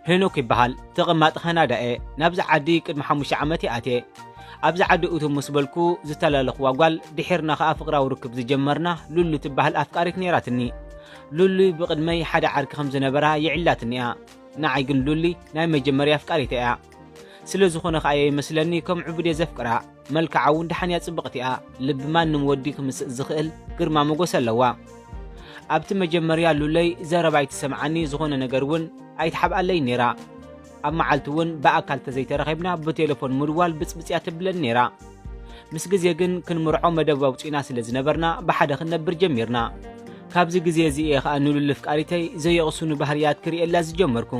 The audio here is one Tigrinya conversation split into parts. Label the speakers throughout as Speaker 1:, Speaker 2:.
Speaker 1: ሄኖክ ይበሃል ተቐማጢ ካናዳ እየ ናብዚ ዓዲ ቅድሚ ሓሙሽተ ዓመት እየ ኣትየ ኣብዚ ዓዲ እቱ ምስ በልኩ ዝተላለኽዋ ጓል ድሒርና ከኣ ፍቕራዊ ርክብ ዝጀመርና ሉሉ ትበሃል ኣፍቃሪት ነይራትኒ ሉሉ ብቕድመይ ሓደ ዓርኪ ከም ዝነበራ ይዕላትኒ እያ ንዓይ ግን ሉሊ ናይ መጀመርያ ኣፍቃሪተ እያ ስለ ዝኾነ ከኣ እየ ይመስለኒ ከም ዕቡድ እየ ዘፍቅራ። መልክዓ እውን ደሓን እያ ጽብቕቲ እያ። ልቢ ማንም ወዲ ክምስጥ ዝኽእል ግርማ ሞገስ ኣለዋ። ኣብቲ መጀመርያ ሉለይ ዘረባ ኣይትሰምዓኒ ዝኾነ ነገር እውን ኣይትሓብኣለይን ነይራ። ኣብ መዓልቲ እውን ብኣካል ተዘይተረኺብና ብቴሌፎን ምድዋል ብጽብጽ እያ ተብለኒ ነይራ። ምስ ግዜ ግን ክንምርዖ መደብ ኣውጺእና ስለ ዝነበርና ብሓደ ክንነብር ጀሚርና። ካብዚ ግዜ እዚ እየ ከኣ ንሉሊ ፍቃሪተይ ዘየቕሱኑ ባህርያት ክርእየላ ዝጀመርኩ።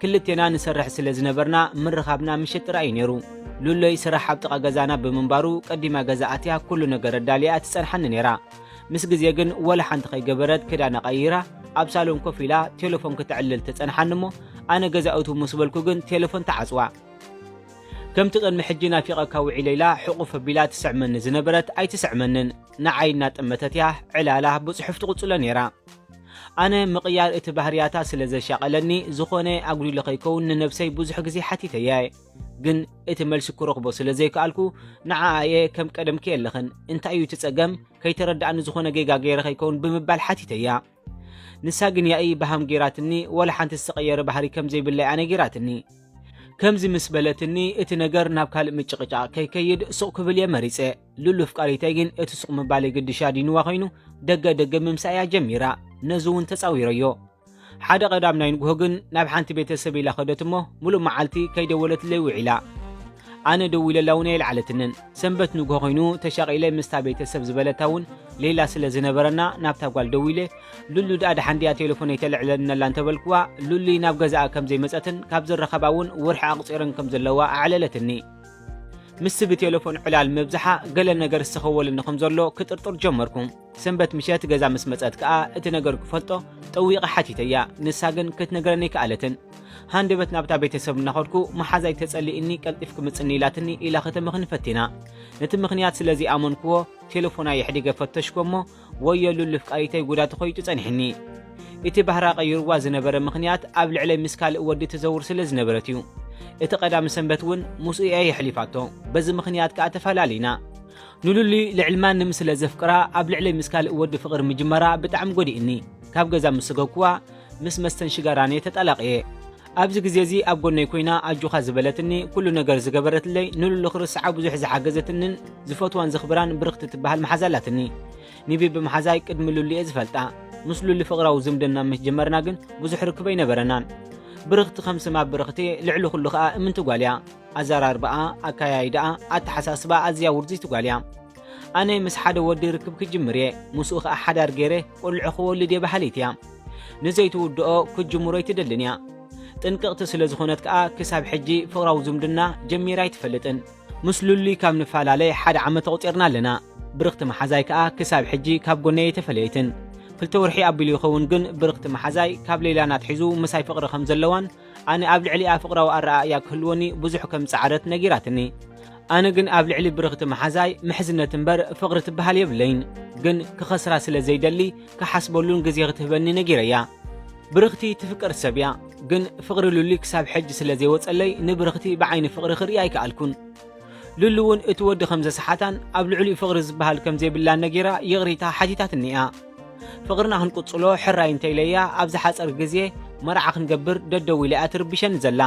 Speaker 1: ክልቴና ንሰርሕ ስለ ዝነበርና ምርኻብና ምሸት ጥራይ እዩ ነይሩ። ሉሎይ ስራሕ ኣብ ጥቓ ገዛና ብምንባሩ ቀዲማ ገዛ ኣትያ ኩሉ ነገር ኣዳልያ ትጸንሓኒ ነይራ። ምስ ግዜ ግን ወላ ሓንቲ ከይገበረት ክዳና ቀይራ ኣብ ሳሎን ኮፍ ኢላ ቴለፎን ክትዕልል ትጸንሓኒ እሞ ኣነ ገዛ እትው ምስ በልኩ ግን ቴለፎን ትዓጽዋ። ከምቲ ቅድሚ ሕጂ ናፊቐካ ውዒለ ኢላ ሕቑፍ ኣቢላ ትስዕመኒ ዝነበረት ኣይትስዕመንን። ንዓይ እናጠመተት እያ ዕላላ ብጽሑፍ ትቕጽሎ ነይራ። ኣነ ምቕያር እቲ ባህርያታ ስለ ዘሻቐለኒ ዝኾነ ኣጉዲለ ከይከውን ንነብሰይ ብዙሕ ግዜ ሓቲተያ'የ። ግን እቲ መልሲ ክረኽቦ ስለ ዘይከኣልኩ ንዓኣ'የ ከም ቀደምኪ የለኽን፣ እንታይ እዩ እቲ ጸገም? ከይተረድኣኒ ዝኾነ ጌጋ ገይረ ከይከውን ብምባል ሓቲተያ። ንሳ ግን ያኢ በሃም ገይራትኒ፣ ዋላ ሓንቲ ዝተቐየረ ባህሪ ከም ዘይብላይ'ያ ነጊራትኒ። ከምዚ ምስ በለትኒ እቲ ነገር ናብ ካልእ ምጭቕጫቕ ከይከይድ ሱቕ ክብል'የ መሪጸ። ሉሉ ፍቃሪተይ ግን እቲ ሱቕ ምባለይ ግድሽ ኣዲንዋ ኮይኑ ደገ ደገ ምምሳእ እያ ጀሚራ ነዚ እውን ተጻዊረዮ ሓደ ቀዳም ናይ ንግሆ ግን ናብ ሓንቲ ቤተሰብ ኢላ ከደት እሞ ሙሉእ መዓልቲ ከይደወለትለይ ውዒላ ኣነ ደዊለላ እውን ኣይልዓለትንን ሰንበት ንግሆ ኮይኑ ተሻቒለ ምስታ ቤተሰብ ዝበለታ እውን ሌላ ስለ ዝነበረና ናብታ ጓል ደዊለ ሉሉ ድኣ ድሓን ድያ ቴሌፎነይ ተልዕለልነላ እንተበልክዋ ሉሉይ ናብ ገዛኣ ከም ዘይመፀትን ካብ ዝረኸባ እውን ውርሒ ኣቑፂረን ከም ዘለዋ ኣዕለለትኒ ምስቲ ብቴለፎን ዕላል ምብዛሓ ገለ ነገር ዝሰኸወልኒ ከም ዘሎ ክጥርጥር ጀመርኩ። ሰንበት ምሸት ገዛ ምስ መጸት ከኣ እቲ ነገር ክፈልጦ ጠዊቐ ሓቲተያ፣ ንሳ ግን ክትነግረኒ ኣይከኣለትን። ሃንደበት ናብታ ቤተሰብ እናኸድኩ መሓዛይ ተጸሊእኒ ቀልጢፍ ክምጽኒ ኢላትኒ ኢላ ከተመኽኒ ፈቲና። ነቲ ምኽንያት ስለ ዘይኣመንክዎ ቴለፎና የሕዲገ ፈተሽኩ እሞ ወዮ ሉሉ ፍቃሪተይ ጉዳ ተኾይጡ ጸኒሕኒ እቲ ባህራ ቀይርዋ ዝነበረ ምኽንያት ኣብ ልዕለይ ምስ ካልእ ወዲ ትዘውር ስለ ዝነበረት እዩ እቲ ቀዳሚ ሰንበት እውን ምስኡ እያ የሕሊፋቶ በዚ ምኽንያት ከኣ ተፈላለይና ንሉሊ ልዕሊ ማንም ስለ ዘፍቅራ ኣብ ልዕለይ ምስ ካልእ ወዲ ፍቕሪ ምጅመራ ብጣዕሚ ጎዲእኒ ካብ ገዛ ምስ ሰገኩዋ ምስ መስተን ሽጋራን እየ ተጣላቕየ ኣብዚ ግዜ እዚ ኣብ ጎነይ ኮይና ኣጆኻ ዝበለትኒ፣ ኩሉ ነገር ዝገበረትለይ፣ ንሉሉ ክርስዓ ብዙሕ ዝሓገዘትንን ዝፈትዋን ዘኽብራን ብርኽቲ ትበሃል መሓዛ ኣላትኒ። ኒቢቢ መሓዛይ ቅድሚ ሉሉ እየ ዝፈልጣ። ምስ ሉሉ ፍቕራዊ ዝምድና ምስ ጀመርና ግን ብዙሕ ርክብ ኣይነበረናን። ብርኽቲ ከም ስማ ብርኽቲ ልዕሊ ኩሉ ከኣ እምንቲ ጓል እያ። ኣዘራርባኣ፣ ኣከያይዳኣ፣ ኣተሓሳስባኣ ኣዝያ ውርዝይቲ ጓል እያ። ኣነ ምስ ሓደ ወዲ ርክብ ክጅምር እየ፣ ምስኡ ከኣ ሓዳር ገይረ ቆልዑ ክወልድ እየ በሃሊት እያ። ንዘይትውድኦ ክትጅምሮ ኣይትደልን እያ። ጥንቅቕቲ ስለ ዝኾነት ከኣ ክሳብ ሕጂ ፍቕራዊ ዝምድና ጀሚራ ኣይትፈልጥን። ምስ ሉሊ ካብ ንፈላለ ሓደ ዓመት ኣቑጺርና ኣለና። ብርኽቲ መሓዛይ ከኣ ክሳብ ሕጂ ካብ ጎነይ ኣይተፈለየትን። ክልተ ወርሒ ኣቢሉ ይኸውን ግን ብርኽቲ መሓዛይ ካብ ሌይላን ኣትሒዙ ምሳይ ፍቕሪ ከም ዘለዋን ኣነ ኣብ ልዕሊኣ ፍቕራዊ ኣረኣእያ ክህልወኒ ብዙሕ ከም ዝጸዓረት ነጊራትኒ። ኣነ ግን ኣብ ልዕሊ ብርኽቲ መሓዛይ ምሕዝነት እምበር ፍቕሪ ትበሃል የብለይን፣ ግን ክኸስራ ስለ ዘይደሊ ክሓስበሉን ግዜ ክትህበኒ ነጊረያ። ብርኽቲ ትፍቅር ሰብ እያ፣ ግን ፍቕሪ ሉሊ ክሳብ ሕጂ ስለ ዘይወጸለይ ንብርኽቲ ብዓይኒ ፍቕሪ ክርእያ ኣይከኣልኩን። ሉሊ እውን እቲ ወዲ ከም ዘስሓታን ኣብ ልዕሊኡ ፍቕሪ ዝበሃል ከም ዘይብላን ነጊራ ይቕሬታ ሓቲታትኒ እያ። ፍቅርና ክንቅጽሎ ሕራይ እንተ ኢለያ ኣብ ዝሓጸር ግዜ መርዓ ክንገብር ደደው ኢላ'ያ ትርብሸኒ ዘላ።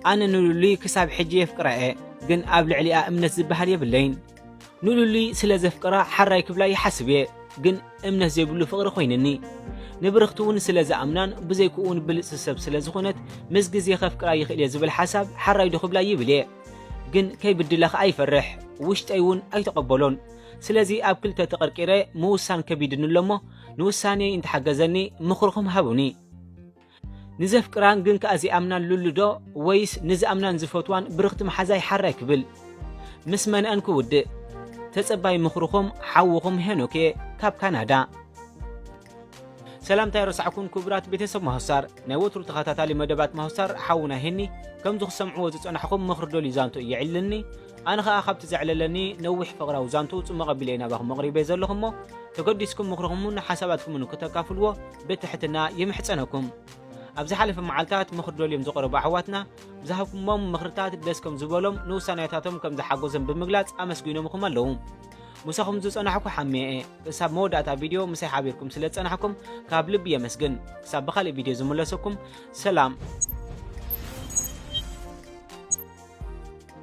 Speaker 1: ኣነ ንሉሊ ክሳብ ሕጂ የፍቅራ'የ ግን ኣብ ልዕሊኣ እምነት ዝበሃል የብለይን። ንሉሊ ስለ ዘፍቅራ ሓራይ ክብላ ይሓስብ'የ ግን እምነት ዘይብሉ ፍቅሪ ኮይንኒ። ንብርኽቲ ውን ስለ ዝኣምናን ብዘይክኡ ውን ብልጽቲ ሰብ ስለ ዝኮነት ምስ ግዜ ከፍቅራ ይክእል'የ ዝብል ሓሳብ ሓራይ'ዶ ክብላ ይብል'የ ግን ከይብድላ ከኣ ይፈርሕ ውሽጠይ ውን ኣይተቀበሎን ስለዚ ኣብ ክልተ ተቐርቂረ ምውሳን ከቢድኒ ኣሎ እሞ ንውሳኔይ እንተሓገዘኒ ምኽርኹም ሃቡኒ። ንዘፍቅራን ግን ከኣ ዚኣምናን ሉሉ ዶ ወይስ ንዝኣምናን ዝፈትዋን ብርኽቲ መሓዛይ ሓራይ ክብል? ምስ መን'ን ክውድእ? ተጸባይ ምኽርኹም ሓውኹም ሄኖክ እየ ካብ ካናዳ። ሰላምታ ኣይረሳዕኩን ኩቡራት ቤተሰብ ማሁስታር ናይ ወትሩ ተኻታታሊ መደባት ማሁስታር ሓውና ሄኒ ከምዚ ክትሰምዕዎ ዝጸናሕኹም ምኽሪ ዶሊ ዛንቶ እየዒልልኒ ኣነ ከኣ ካብቲ ዘዕለለኒ ነዊሕ ፍቕራዊ ዛንትኡ ጽሙቕ ኣቢለ እየ ናባኹም ኣቕሪበዮ ዘለኹ እሞ ተገዲስኩም ምኽርኹምን ሓሳባትኩምን ክተካፍልዎ ብትሕትና ይምሕጸነኩም። ኣብ ዝሓለፈ መዓልታት ምኽሪ ደልዮም ዝቐረቡ ኣሕዋትና ብዝሃብኩሞም ምኽርታት ደስ ከም ዝበሎም ንውሳኔታቶም ከም ዝሓጎዘም ብምግላጽ ኣመስጊኖምኹም ኣለዉ። ምሳኹም ዝጸናሕኩ ሓሜ እየ። ክሳብ መወዳእታ ቪድዮ ምሳይ ሓቢርኩም ስለ ዝጸናሕኩም ካብ ልቢ የመስግን። ክሳብ ብኻልእ ቪድዮ ዝምለሰኩም ሰላም።